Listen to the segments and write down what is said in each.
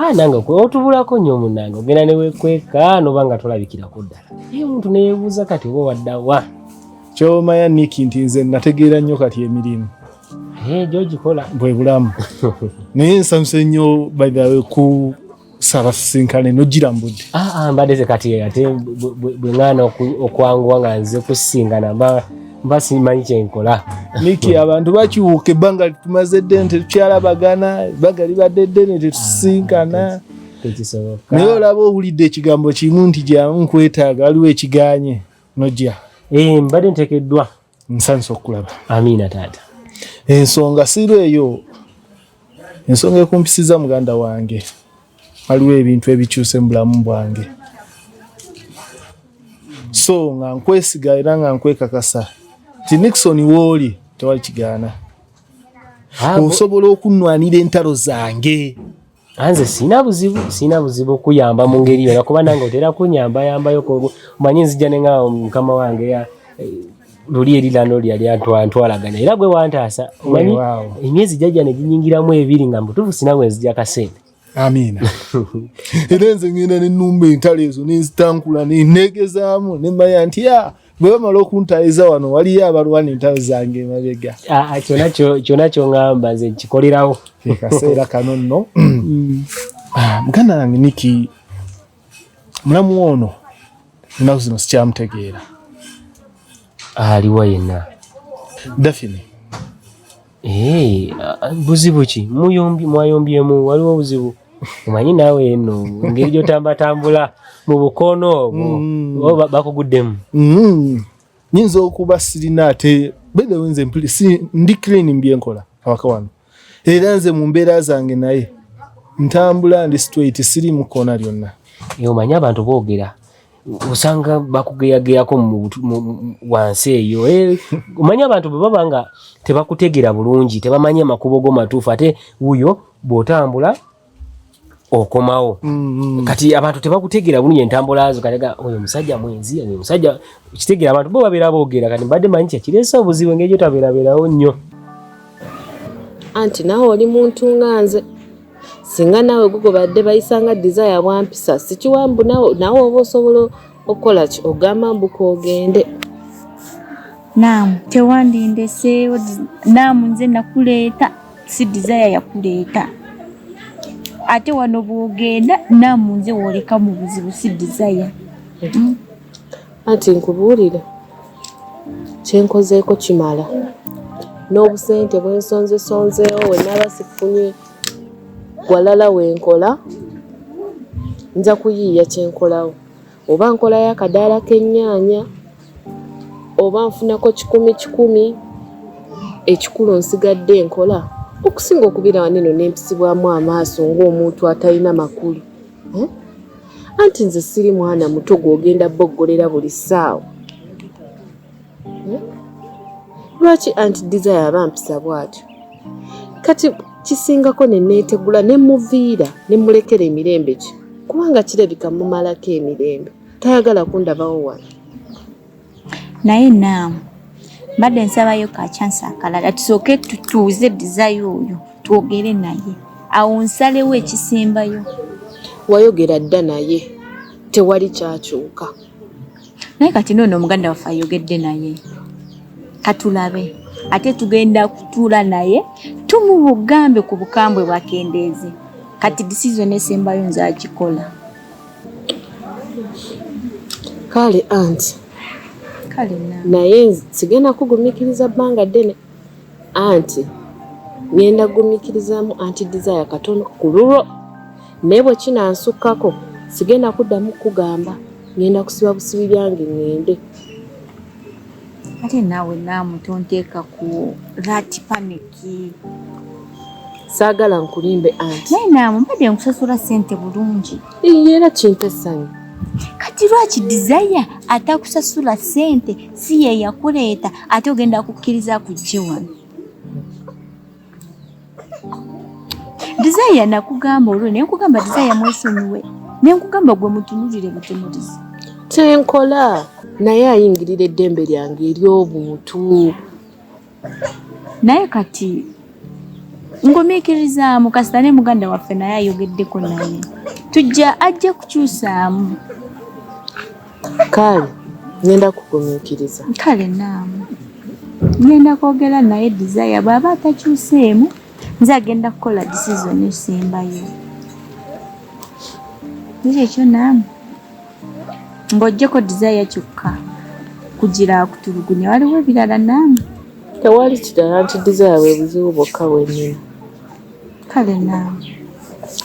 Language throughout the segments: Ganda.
Ah, nange otubulako nnyo munange ogenda newekweka noba nga tolabikirako ddala naye omuntu neyebuuza kati oba waddawa kyomaya nik nti nze nategeera nnyo kati emirimu eh, gyogikola bwe bulamu naye nsanyuse nnyo bythe ku saba sisinkane nojira mbudde ah, ah, mbadde ze kati ate bwe ŋaana okwanguwa nga nze kusinkana mba simanyi kyenkola miki abantu bakyuka ebbanga litumaze ddene tetukyalabagana ebbanga libadde ddene tetusinkana ah, naye olaba owulidde ekigambo kimu nti gyamu nkwetaaga waliwo ekiganye nojja eh, mbadde ntekeddwa nsanyusa okukulaba amiina taata ensonga sirwa eyo Ensonga ekumpisiza muganda wange, waliwo ebintu ebikyuse mu bulamu bwange, so nga nkwesiga era nga nkwekakasa nti Nixon wooli tewali kigaana, osobola okunwanira entalo zange. Anze sina buzibu sina buzibu kuyamba mu ngeri yona kuba nange otera kunyamba yambayo omanyi nzija ne nga mukama wange ya eh, luli eri lano lyali antwalaganya era gwe wantaasa omanyi emyezi jajja neginyingiramu ebiri nga mbutuufu sina bwe nzija kasente amiina era nze ngenda nenumba entalo ezo nenzitankula nenegezaamu nemanya nti a ah, bwe bamala okuntayiza wano waliyo abalwana entalo zange emabega ah, ah, kyona kyoŋamba nze nkikolerawo kaseera kano nno mm. muganda nange niki mulamu ono ennaku zino sikyamutegeera aliwa yenna dafini eh, buzibu ki muyombi mwayombyemu waliwo obuzibu omanyi naawe eno engeri gyotambatambula mu bukono obwo mm. oba bakuguddemu mm. nyinza okuba sirina ate bedewenze ndi clean mbyenkola awaka wano era nze mu mbeera zange naye ntambula ndi straight siri mu kkoona lyonna omanyi abantu boogera osanga bakugeyageyako wansi eyo eh, omanyi abantu bwe baba nga tebakutegera bulungi tebamanyi amakubo go matuufu ate wuyo bw'otambula okomawo mm-hmm. kati abantu tebakutegera bulungi entambula zo kalega oyo musajja mwenzi oyo musajja kitegera abantu bo babeera boogera kati mbadde manyi kyakireesa obuzibu engeri gyo tabeerabeerawo nnyo anti nawe oli muntu nga nze singa nawe gugo badde bayisanga desire bwampisa sikiwambu nawe oba osobola okukola ki ogamba mbuka ogende naamu tewandindeseewo naamu nze nakuleeta si desire yakuleeta ate wano bwogenda namu nze woleka mu buzibu si desire hmm? anti nkubuulire kyenkozeeko kimala n'obusente bwensonzesonzeewo wenaba sifunye walala wenkola nja kuyiiya kyenkolawo oba nkolayo akadaala k'ennyaanya oba nfunako kikumi kikumi ekikulu nsigadde nkola okusinga okubeera wano eno nempisibwamu amaaso ng'omuntu atalina makulu eh? anti nze siri mwana muto gw'ogenda boggolera buli ssaawa lwaki anti desire abampisa bwatyo kati kisingako neneetegula ne muviira ne mulekera emirembe ki kubanga kirabika mumalako emirembe tayagala kundabawo wala naye naamu mbadde nsabayo ka chansi akalala tusooke tutuuze desire oyo twogere naye awo nsalewo ekisembayo wayogera dda naye tewali kyakyuka naye kati noono omuganda waffe ayogedde naye katulabe ate tugenda kutuula naye tumubugambe ku bukambwe bwakendeeze kati disizoni esembayo nze agikola kale anti naye sigenda kugumikiriza bbanga ddene anti ngenda gumikirizamu anti desire katono ku lulwo Naye bwe kinansukkako sigenda kuddamu kukugamba, ngenda kusiba busibi byange ngende. Ate naawe naamu tonteeka ku that panic. Saagala nkulimbe anti. Naye naamu mbadde nkusasula ssente bulungi. Iye era kimpa essanyu. Kati lwaki Desire atakusasula ssente si ye yakuleeta ate ogenda kukkiriza kujje wano? Desire nakugamba olwo naye nkugamba Desire mwesonyiwe. Ne nkugamba gwe mutunulire butunulizi. Kyenkola naye ayingirira eddembe lyange ery'obuntu. Naye kati ngumiikirizaamu kasita ne muganda waffe naye ayogeddeko naye tujja ajja kukyusaamu. Kale ngenda kugumiikiriza. Kale naamu ngenda kwogera naye Desire bw'aba atakyuseemu nze agenda kukola decision esembayo. Naye ekyo naamu ng'oggyeko Desire kyokka kugira akutulugunya waliwo ebirala naamu. Tewali kirala nti Desire bwe buzibu bwokka bwe nnina. Kale naawe.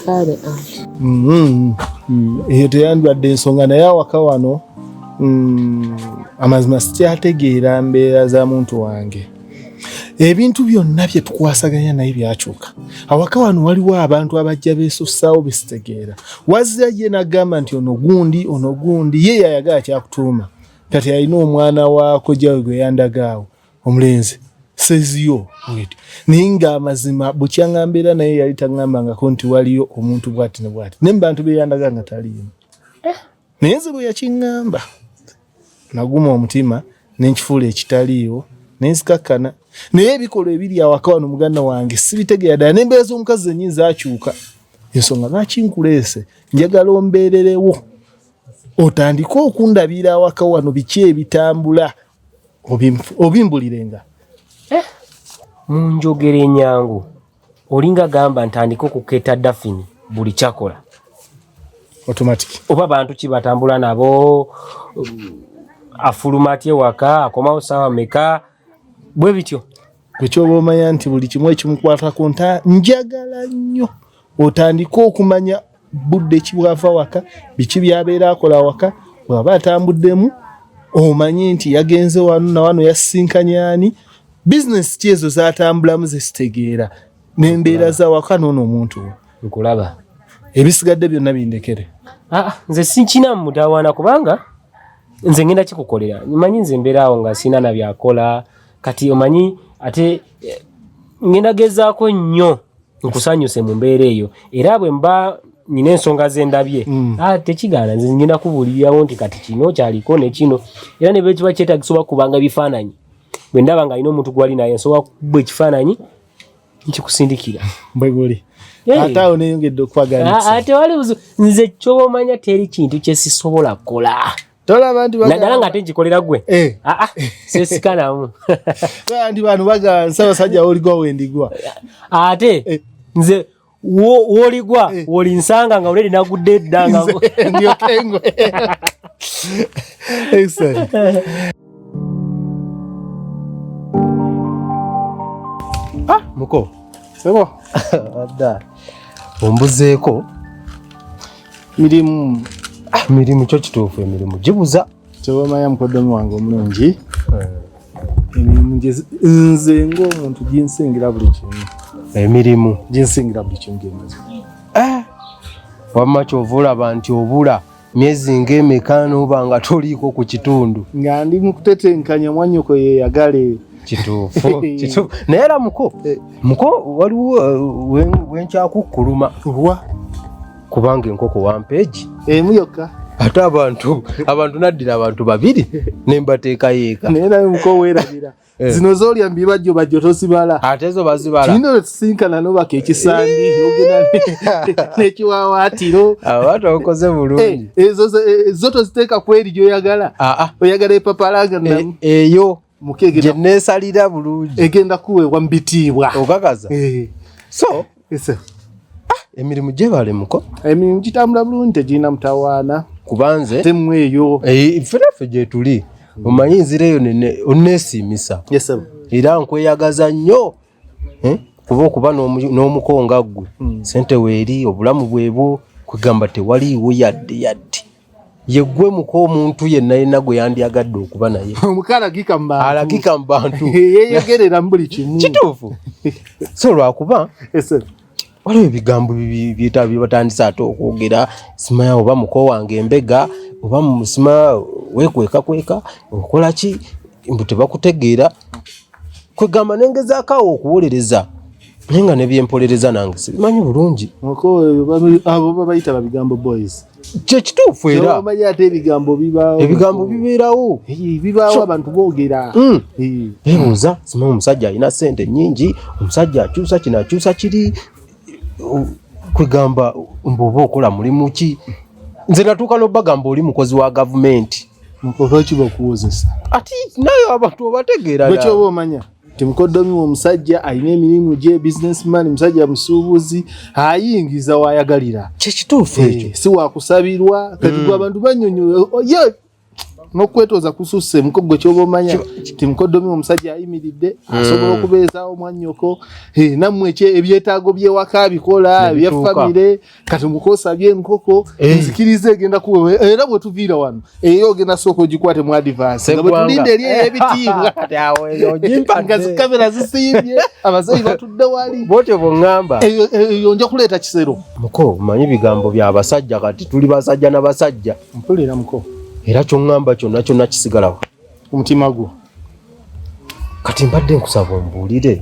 Kale anti. Mm-hmm. Mm, eyo teyandwadde ensonga naye awaka wano mm, amazima sikyategeera mbeera za muntu wange ebintu byonna bye tukwasaganya naye byakyuka awaka wano waliwo abantu abajja beesussaawo besitegeera wazira ye nagamba nti ono gundi ono gundi ye yayagala kyakutuuma kati alina omwana waako jawe gwe yandagaawo omulenzi says yo wait ninga amazima bukyanga mbera naye yali tangamba nga konti waliyo omuntu bwati ne bwati ne bantu be yandaga nga tali yemu eh. naye zibu ya kingamba naguma omutima ne nkifuula ekitaliyo ne nsikakana naye ebikolwa ebiri awaka wano muganda wange sibitegeera ddala nembeera z'omukazi zenyi zakyuka ensonga lwaki nkuleese njagala ombeererewo otandike okundabira awaka wano biki ebitambula obimbulirenga eh? mu njogera enyangu olinga gamba ntandika okuketa dafini buli kyakola automatic oba bantu ki batambula nabo um, afuluma atya ewaka akomawo saawa meka bwe bityo Kwekyoba omanya nti buli kimu ekimukwatako nta njagala nnyo otandike okumanya budde kibwava waka biki byabeera akola waka bwaba atambuddemu omanye nti yagenze wano nawano yasisinkanyani bizinesi ki ezo zatambulamu zesitegeera nembeera zawaka noono omuntu we nkulaba ebisigadde byonna bindekere ah, ah, nze sinkina mutawaana kubanga nze ngenda kikukolera manyi nze mbeeraawo nga sina nabyakola kati omanyi ate eh, ngenda gezaako nnyo nkusanyuse mu mbeera eyo era bwe mba nina ensonga zendabye mm. ah, tekigaana nze ngenda kubuulirirawo nti kati kino kyaliko nekino era ne bwekiba kyetagisa oba kubanga bifaananyi bwe ndaba nga alina omuntu gwali naye nsobola kuba ekifaananyi nkikusindikira bweguli ate awo neyongedde okwagalate ah, ah, wali nze kyobomanya teri kintu kyesisobola kukola tolaba nti naddala nga ate nkikolera gwe aa eh. ah, ah, sesikanamu tolaba nti bantu bagamba nsabasajja woligwa wendigwa ate eh. nze woligwa eh. wolinsanga nga oledi nagudde eddanga ndiokengwe ah, muko sebo adda ombuzeeko mirimu ah, mirimu kyo kituufu emirimu gibuza kyewamanya mukoddomi wange omulungi eh. emirimu nze ngaomuntu ginsingira buli kimu emirimu ginsingira buli kimu gemazi eh. wamma kyova olaba nti obula myezi ngaemeka noba nga toliiko ku kitundu nga ndi mukutetenkanya mwanyoko yeyagale kituufu kituufu naye era muko eh. muko waliwo eh, wenkyakukkuluma lwa kubanga enkoko wampeegi emu yokka ate abantu abantu naddira abantu babiri nembateekayo eka naye naye muko weerabira eh. zino zolya mbibajjo bajjo tosibala ate zo bazibala kino wetisinkana nobaka ekisandi nogenda nekiwawaatiro abantu abakoze bulungi ezo zo toziteeka kweri gyoyagala ah, ah. oyagala epapalanga eyo gye neesalira bulungi egenda kuweebwa mu bitiibwa okakaza eh. so ah, emirimu gyebale muko emirimu gitambula bulungi tegirina mutawaana kubanze temu eyo eh, fenaffe gyetuli omanyi nzira eyo oneesiimisa era nkweyagaza nnyo eh? kuba okuba n'omuko nga ggwe hmm. sente weeri obulamu bwebwo kwegamba tewaliiwo yadde yadde yeggwe muko omuntu yenna yenna gwe yandyagadde okuba naye alagika mu bantu yeyogerera mu buli kimu kituufu so lwakuba waliwo ebigambo byebatandise ate okwogera simaya oba muko wange embega oba musima wekwekakweka okola ki mbu tebakutegeera kwegamba nengezaako awo okuwolereza naye nga nebyempolereza nange sibimanyi bulungi abo babayita babigambo boys kyekituufu era omanyi ate ebigambo bibaawo ebigambo bibeerawo bibaawo abantu boogera hmm. ebuuza sima omusajja alina sente nyingi omusajja akyusa kino akyusa kiri kwegamba mbu oba okola mulimu ki nze natuuka nobagamba oli mukozi wa gavumenti olwaki bakuwozesa ati naye abantu obategeera ekyoba omanya Timukoddomi omusajja alina emirimu gye businessman, musajja musuubuzi, ayingiza wayagalira. Kyekituufu ekyo, eh, si wakusabirwa kati mm. gwe abantu banyonyola oh, ye nokwetooza kususse muko gwe kyoba omanya timukoddomi omusajja ayimiridde mm. asobola okubeezaawo mwanyoko eh, nammwe ebyetaago byewaka bikola byefamire kati mukosa bye nkoko hey. Eh. nzikirize egenda kuwe eh, era bwe tuviira wano eyo eh, ogenda sooka ogikwate mu advance nga bwetulinde eri ey'ebitiibwa nga zikamera zisimbye abazeeyi batudde wali bwotyo bwongamba eyo nja kuleeta kisero muko manyi ebigambo bya basajja kati tuli basajja na basajja mpulira muko era kyongamba kyonna kyonna kisigalawo omutima gwo kati mbadde nkusaba ombuulire